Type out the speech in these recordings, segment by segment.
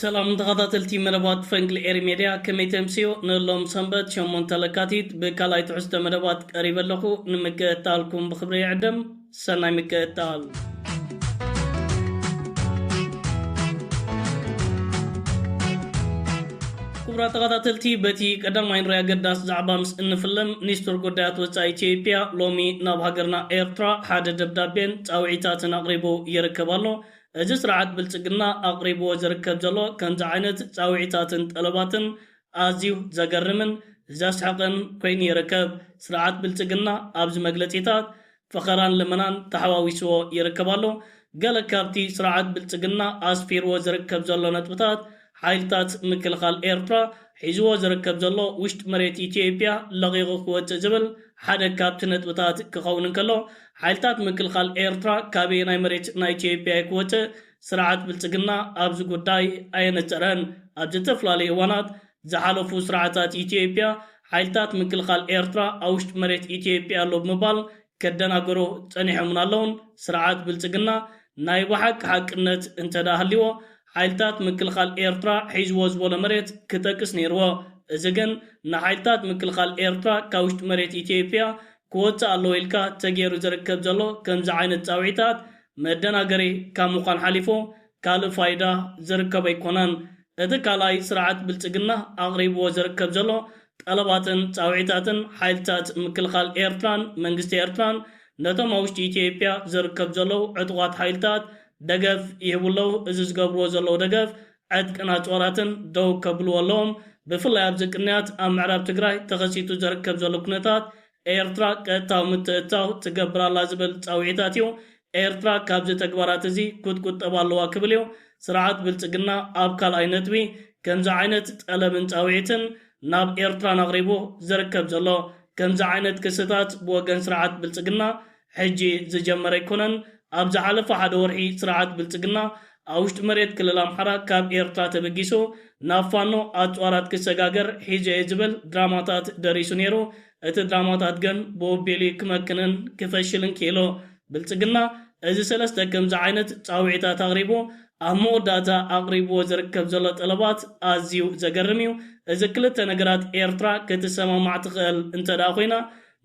ሰላም ተኻታተልቲ መደባት ፈንቅል ኤሪ ሜድያ ከመይ ተምስዮ ንሎም ሰንበት ሸሞንተ ለካቲት ብካልኣይ ትሕዝቶ መደባት ቀሪበ ኣለኹ ንምክእታልኩም ብኽብሪ ይዕድም ሰናይ ምክእታል። ክቡራት ተኻታተልቲ በቲ ቀዳማይ ንሪ ኣገዳሲ ዛዕባ ምስ እንፍልም ኒስትር ጉዳያት ወጻኢ ኢትዮጵያ ሎሚ ናብ ሃገርና ኤርትራ ሓደ ደብዳቤን ጻውዒታትን ኣቕሪቡ ይርከብ ኣሎ እዚ ስርዓት ብልጽግና ኣቕሪብዎ ዝርከብ ዘሎ ከምዚ ዓይነት ጻውዒታትን ጠለባትን ኣዝዩ ዘገርምን ዘስሕቕን ኮይኑ ይርከብ። ስርዓት ብልጽግና ኣብዚ መግለጺታት ፈኸራን ልመናን ተሓዋዊስዎ ይርከብ ኣሎ። ገለ ካብቲ ስርዓት ብልጽግና ኣስፊርዎ ዝርከብ ዘሎ ነጥብታት ሓይልታት ምክልኻል ኤርትራ ሒዝዎ ዝርከብ ዘሎ ውሽጢ መሬት ኢትዮጵያ ለቒቑ ክወጽእ ዝብል ሓደ ካብቲ ነጥብታት ክኸውን እንከሎ፣ ሓይልታት ምክልኻል ኤርትራ ካበየናይ መሬት ናይ ኢትዮጵያ'ዩ ክወጽእ ስርዓት ብልጽግና ኣብዚ ጉዳይ ኣየነጸረን። ኣብ ዘተፈላለዩ እዋናት ዝሓለፉ ስርዓታት ኢትዮጵያ ሓይልታት ምክልኻል ኤርትራ ኣብ ውሽጢ መሬት ኢትዮጵያ ኣሎ ብምባል ከደናገሩ ጸኒሖምን ኣለዉን። ስርዓት ብልጽግና ናይ ብሓቂ ሓቅነት እንተድኣ ሃልይዎ ሓይልታት ምክልኻል ኤርትራ ሒዝዎ ዝበሎ መሬት ክጠቅስ ነይርዎ። እዚ ግን ንሓይልታት ምክልኻል ኤርትራ ካብ ውሽጢ መሬት ኢትዮጵያ ክወጽእ ኣለዎ ኢልካ ተገይሩ ዝርከብ ዘሎ ከምዚ ዓይነት ጻውዒታት መደናገሪ ካብ ምዃን ሓሊፉ ካልእ ፋይዳ ዝርከቦ ኣይኮነን። እቲ ካልኣይ ስርዓት ብልጽግና ኣቕሪብዎ ዝርከብ ዘሎ ጠለባትን ጻውዒታትን ሓይልታት ምክልኻል ኤርትራን መንግስቲ ኤርትራን ነቶም ኣብ ውሽጢ ኢትዮጵያ ዝርከብ ዘለዉ ዕጡቓት ሓይልታት ደገፍ ይህቡ ኣለዉ፣ እዚ ዝገብርዎ ዘለዉ ደገፍ ዕጥቅን ኣጽዋራትን ደው ከብልዎ ኣለዎም፣ ብፍላይ ኣብዚ ቅንያት ኣብ ምዕራብ ትግራይ ተኸሲቱ ዝርከብ ዘሎ ኩነታት ኤርትራ ቀጥታዊ ምትእትታው ትገብር ኣላ ዝብል ጻውዒታት እዩ፣ ኤርትራ ካብዚ ተግባራት እዚ ክትቁጠብ ኣለዋ ክብል እዩ ስርዓት ብልጽግና ኣብ ካልኣይ ነጥቢ ከምዚ ዓይነት ጠለብን ጻውዒትን ናብ ኤርትራን ኣቕሪቡ ዝርከብ ዘሎ። ከምዚ ዓይነት ክስታት ብወገን ስርዓት ብልፅግና ሕጂ ዝጀመረ ኣይኮነን። ኣብ ዝሓለፈ ሓደ ወርሒ ስርዓት ብልፅግና ኣብ ውሽጢ መሬት ክልል ኣምሓራ ካብ ኤርትራ ተበጊሱ ናብ ፋኖ ኣፅዋራት ክሰጋገር ሒዙ እየ ዝብል ድራማታት ደሪሱ ነይሩ። እቲ ድራማታት ግን ብወቤሉ እዩ ክመክንን ክፈሽልን ክኢሉ። ብልፅግና እዚ ሰለስተ ከምዚ ዓይነት ፃውዒታት ኣቕሪቡ ኣብ መወዳእታ ኣቕሪብዎ ዝርከብ ዘሎ ጠለባት ኣዝዩ ዘገርም እዩ። እዚ ክልተ ነገራት ኤርትራ ክትሰማማዕ ትኽእል እንተድኣ ኮይና፣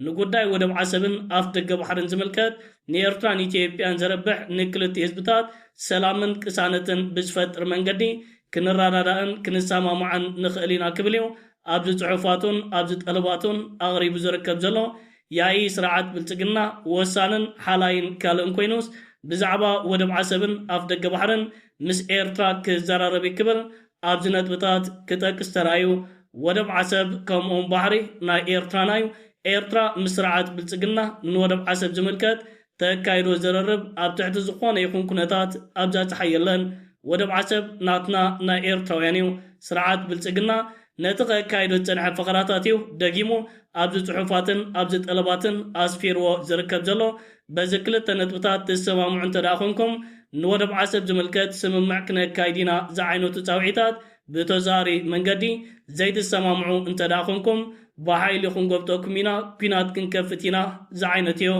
ንጉዳይ ወደብ ዓሰብን ኣፍደገ ባሕርን ዝምልከት፣ ንኤርትራን ኢትዮጵያን ዘርብሕ፣ ንክልቲኡ ህዝብታት ሰላምን ቅሳነትን ብዝፈጥር መንገዲ ክንረዳዳእን ክንሰማማዕን ንኽእል ኢና ክብል እዩ ኣብዚ ጽሑፋቱን ኣብዚ ጠለባቱን ኣቕሪቡ ዝርከብ ዘሎ። ያኢ ስርዓት ብልጽግና ወሳንን ሓላይን ካልእን ኮይኑስ ብዛዕባ ወደብ ዓሰብን ኣፍደገ ባሕርን ምስ ኤርትራ ክዘራረብ እዩ ክብል ኣብዚ ነጥብታት ክጠቅስ ተራእዩ። ወደብ ዓሰብ ከምኡውን ባሕሪ ናይ ኤርትራና እዩ። ኤርትራ ምስ ስርዓት ብልጽግና ንወደብ ዓሰብ ዝምልከት ተካይዶ ዝርርብ ኣብ ትሕቲ ዝኾነ ይኹን ኩነታት ኣብዛ ጸሓይ የለን። ወደብ ዓሰብ ናትና ናይ ኤርትራውያን እዩ። ስርዓት ብልጽግና ነቲ ከካይዶ ዝጸንሐ ፈኸራታት እዩ ደጊሙ ኣብዚ ጽሑፋትን ኣብዚ ጠለባትን ኣስፊርዎ ዝርከብ ዘሎ። በዚ ክልተ ነጥብታት ትሰማምዑ እንተድኣ ኮንኩም ንወደብ ዓሰብ ዝምልከት ስምምዕ ክነካይድ ኢና ዝዓይነቱ ጻውዒታት ብተዘዋዋሪ መንገዲ ዘይትሰማምዑ እንተድኣ ኾንኩም ብሓይሊ ክንጎብጠኩም ኢና፣ ኲናት ክንከፍት ኢና ዝዓይነትዮ።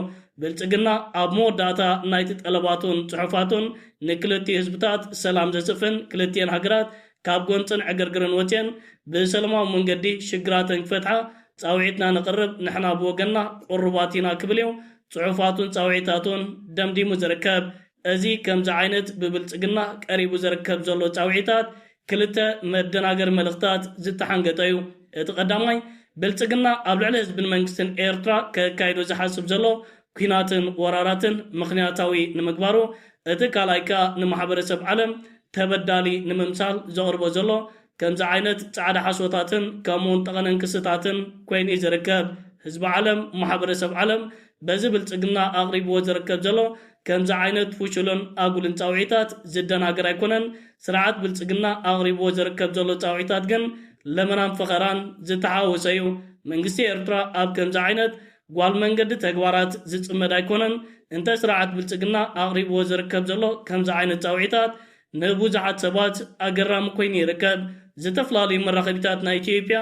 ብልጽግና ኣብ መወዳእታ ናይቲ ጠለባቱን ጽሑፋቱን ንክልቲኡ ህዝብታት ሰላም ዘስፍን ክልቲኤን ሃገራት ካብ ጎንጽን ዕግርግርን ወጺኤን ብሰለማዊ መንገዲ ሽግራተን ክፈትሓ ጻውዒትና ነቕርብ ንሕና ብወገንና ቁሩባት ኢና ክብልዮ ጽሑፋቱን ጻውዒታቱን ደምዲሙ ዝርከብ። እዚ ከምዚ ዓይነት ብብልጽግና ቀሪቡ ዝርከብ ዘሎ ጻውዒታት ክልተ መደናገሪ መልእኽታት ዝተሓንገጠ እዩ። እቲ ቀዳማይ፣ ብልጽግና ኣብ ልዕሊ ህዝብን መንግስትን ኤርትራ ከካይዶ ዝሓስብ ዘሎ ኲናትን ወራራትን ምኽንያታዊ ንምግባሩ፣ እቲ ካልኣይ ከኣ ንማሕበረሰብ ዓለም ተበዳሊ ንምምሳል ዘቕርቦ ዘሎ ከምዚ ዓይነት ጻዕዳ ሓሶታትን ከምኡውን ጠቐነን ክስታትን ኮይኑ እዩ ዝርከብ። ህዝቢ ዓለም፣ ማሕበረሰብ ዓለም በዚ ብልጽግና ኣቕሪብዎ ዝርከብ ዘሎ ከምዚ ዓይነት ፍሹልን ኣጉልን ጻውዒታት ዝደናገር ኣይኮነን። ስርዓት ብልጽግና ኣቕሪብዎ ዝርከብ ዘሎ ጻውዒታት ግን ለመናን ፈኸራን ዝተሓዋወሰ እዩ። መንግስቲ ኤርትራ ኣብ ከምዚ ዓይነት ጓል መንገዲ ተግባራት ዝጽመድ ኣይኮነን። እንተ ስርዓት ብልጽግና ኣቕሪብዎ ዝርከብ ዘሎ ከምዚ ዓይነት ጻውዒታት፣ ንቡዙሓት ሰባት ኣገራሚ ኮይኑ ይርከብ። ዝተፈላለዩ መራኸቢታት ናይ ኢትዮጵያ፣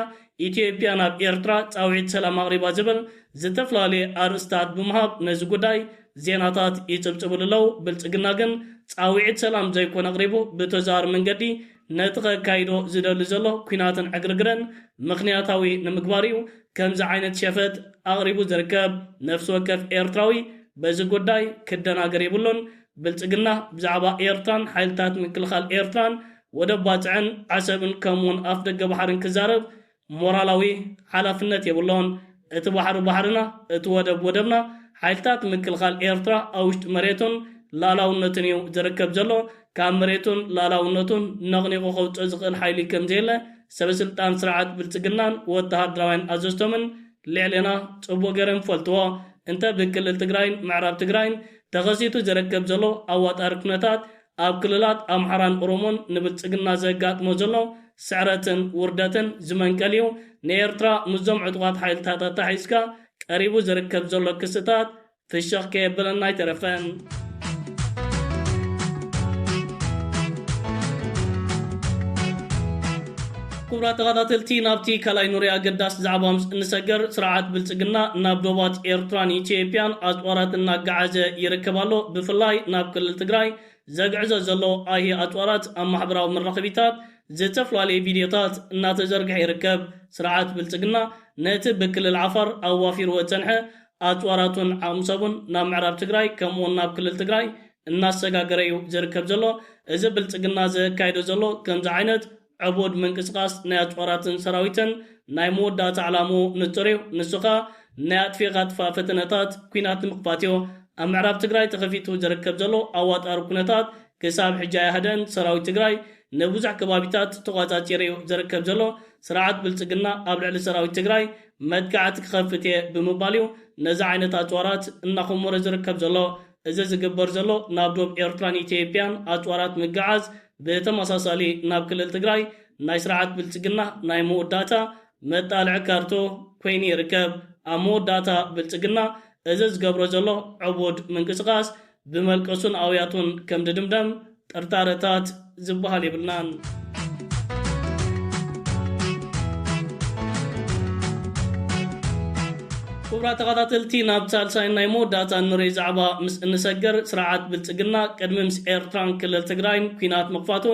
ኢትዮጵያ ናብ ኤርትራ ጻውዒት ሰላም ኣቕሪባ ዝብል ዝተፈላለየ ኣርእስታት ብምሃብ ነዚ ጉዳይ ዜናታት ይጽብጽብሉ ኣለው። ብልጽግና ግን ጻውዒት ሰላም ዘይኮነ ኣቕሪቡ ብተዘዋዋሪ መንገዲ ነቲ ከካይዶ ዝደሊ ዘሎ ኩናትን ዕግርግርን ምኽንያታዊ ንምግባር እዩ ከምዚ ዓይነት ሸፈጥ ኣቕሪቡ ዝርከብ። ነፍሲ ወከፍ ኤርትራዊ በዚ ጉዳይ ክደናገር የብሉን። ብልጽግና ብዛዕባ ኤርትራን ሓይልታት ምክልኻል ኤርትራን ወደብ ባጽዕን ዓሰብን ከምኡውን ኣፍደገ ባሕርን ክዛረብ ሞራላዊ ሓላፍነት የብሎን። እቲ ባሕሪ ባሕርና፣ እቲ ወደብ ወደብና፣ ሓይልታት ምክልኻል ኤርትራ ኣብ ውሽጢ መሬቱን ልኣላውነቱን እዩ ዝርከብ ዘሎ። ካብ መሬቱን ልኣላውነቱን ነቕኒቑ ከውጽኦ ዝኽእል ሓይሊ ከምዘየለ ሰበስልጣን ስርዓት ብልጽግናን ወተሃደራውያን ኣዘዝቶምን ልዕሌና ፅቡቅ ገይረን ፈልጥዎ እንተ ብክልል ትግራይን ምዕራብ ትግራይን ተኸሲቱ ዝረከብ ዘሎ ኣዋጣሪ ኩነታት ኣብ ክልላት ኣምሓራን ኦሮሞን ንብልፅግና ዘጋጥሞ ዘሎ ስዕረትን ውርደትን ዝመንቀል እዩ ንኤርትራ ምስዞም ዕጡቃት ሓይልታት ኣታሓሒዝካ ቀሪቡ ዝርከብ ዘሎ ክስታት ፍሽኽ ከየበለና ኣይተረፈን። ክቡራት ተኸታተልቲ ናብቲ ካልኣይ ኑሪ ኣገዳሲ ዛዕባ ምስ እንሰገር ስርዓት ብልፅግና ናብ ዶባት ኤርትራን ኢትዮጵያን ኣፅዋራት እናጋዓዘ ይርከብ ኣሎ። ብፍላይ ናብ ክልል ትግራይ ዘግዕዞ ዘሎ ኣይሂ ኣፅዋራት ኣብ ማሕበራዊ መራኸቢታት ዝተፈላለዩ ቪድዮታት እናተዘርግሐ ይርከብ። ስርዓት ብልፅግና ነቲ ብክልል ዓፋር ኣዋፊርዎ ዝፀንሐ ኣፅዋራቱን ዓቕሚ ሰቡን ናብ ምዕራብ ትግራይ ከምኡ ውን ናብ ክልል ትግራይ እናሰጋገረ ዩ ዝርከብ ዘሎ። እዚ ብልፅግና ዘካይዶ ዘሎ ከምዚ ዓይነት ዕቡድ ምንቅስቓስ ናይ ኣፅዋራትን ሰራዊትን ናይ መወዳእታ ዕላምኡ ንፁር ዩ። ንሱ ኸኣ ናይ ኣጥፊእኻ ጥፋእ ፈተነታት ኲናት ንምኽፋት ዩ። ኣብ ምዕራብ ትግራይ ተኸፊቱ ዝርከብ ዘሎ ኣዋጣሪ ኩነታት ክሳብ ሕጂ ኣይሃደእን። ሰራዊት ትግራይ ንብዙሕ ከባቢታት ተቖፃፂሩ ዩ ዝርከብ ዘሎ። ስርዓት ብልፅግና ኣብ ልዕሊ ሰራዊት ትግራይ መጥቃዕቲ ክኸፍት እየ ብምባል እዩ ነዚ ዓይነት ኣፅዋራት እናኾሞረ ዝርከብ ዘሎ። እዚ ዝግበር ዘሎ ናብ ዶብ ኤርትራን ኢትዬጵያን ኣፅዋራት ምግዓዝ ብተመሳሳሊ ናብ ክልል ትግራይ ናይ ስርዓት ብልፅግና ናይ መወዳእታ መጣልዒ ካርቶ ኮይኑ ይርከብ። ኣብ መወዳእታ ብልፅግና እዚ ዝገብሮ ዘሎ ዕቡድ ምንቅስቓስ ብመልቀሱን ኣውያቱን ከም ድድምደም ጥርጣረታት ዝበሃል የብልናን። ክቡራት ተኸታተልቲ ናብ ሳልሳይን ናይ መወዳእታን ንረይ ዛዕባ ምስ እንሰገር ስርዓት ብልጽግና ቅድሚ ምስ ኤርትራን ክልል ትግራይን ኩናት ምኽፋቱ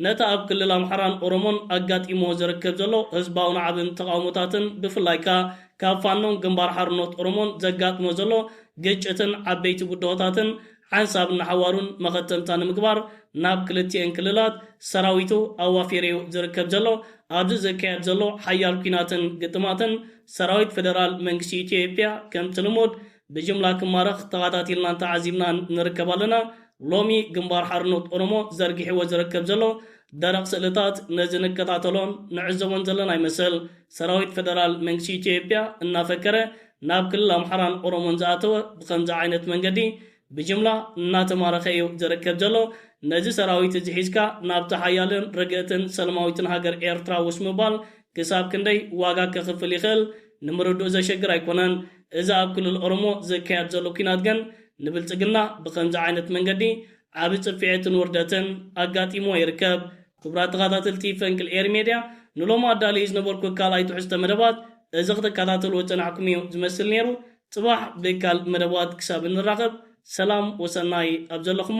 ነቲ ኣብ ክልል ኣምሓራን ኦሮሞን ኣጋጢምዎ ዝርከብ ዘሎ ህዝባዊ ናዕብን ተቓውሞታትን ብፍላይ ከኣ ካብ ፋኖን ግንባር ሓርኖት ኦሮሞን ዘጋጥሞ ዘሎ ግጭትን ዓበይቲ ብድሆታትን ሓንሳብን ንሓዋሩን መኸተምታ ንምግባር ናብ ክልቲኤን ክልላት ሰራዊቱ ኣዋፊሪ'ዩ ዝርከብ ዘሎ። ኣብዚ ዝካየድ ዘሎ ሓያል ኲናትን ግጥማትን ሰራዊት ፈደራል መንግስቲ ኢትዮ ዮጵያ ከምቲ ልሙድ ብጅምላ ክማረኽ ተኻታቲልናን ተዓዚብናን ንርከብ ኣለና። ሎሚ ግንባር ሓርኖት ኦሮሞ ዘርጊሕዎ ዝርከብ ዘሎ ደረቕ ስእልታት ነዚ ንከታተሎን ንዕዘቦን ዘለና ይመስል። ሰራዊት ፈደራል መንግስቲ ኢትዮጵያ እናፈከረ ናብ ክልል ኣምሓራን ኦሮሞን ዝኣተወ ብኸምዚ ዓይነት መንገዲ ብጅምላ እናተማረኸ እዩ ዝርከብ ዘሎ። ነዚ ሰራዊት እዚ ሒዝካ ናብታ ሓያልን ርግእትን ሰለማዊትን ሃገር ኤርትራ ውስ ምባል ክሳብ ክንደይ ዋጋ ከኽፍል ይኽእል ንምርድኡ ዘሸግር ኣይኮነን። እዚ ኣብ ክልል ኦሮሞ ዝካየድ ዘሎ ኲናት ግን ንብልጽግና ብኸምዚ ዓይነት መንገዲ ዓቢ ጽፍዔትን ውርደትን ኣጋጢምዎ ይርከብ። ክቡራት ተኻታተልቲ ፈንቅል ኤሪ ሜድያ ንሎሚ ኣዳልየዮ ዝነበርኩ ካልኣይ ትሕዝቶ መደባት እዚ ክትካታተልዎ ዝጸናሕኩም ኢዩ ዝመስል ኔሩ ጽባሕ ብካልእ መደባት ክሳብ እንራኸብ ሰላም ወሰናይ ኣብ ዘለኹሞ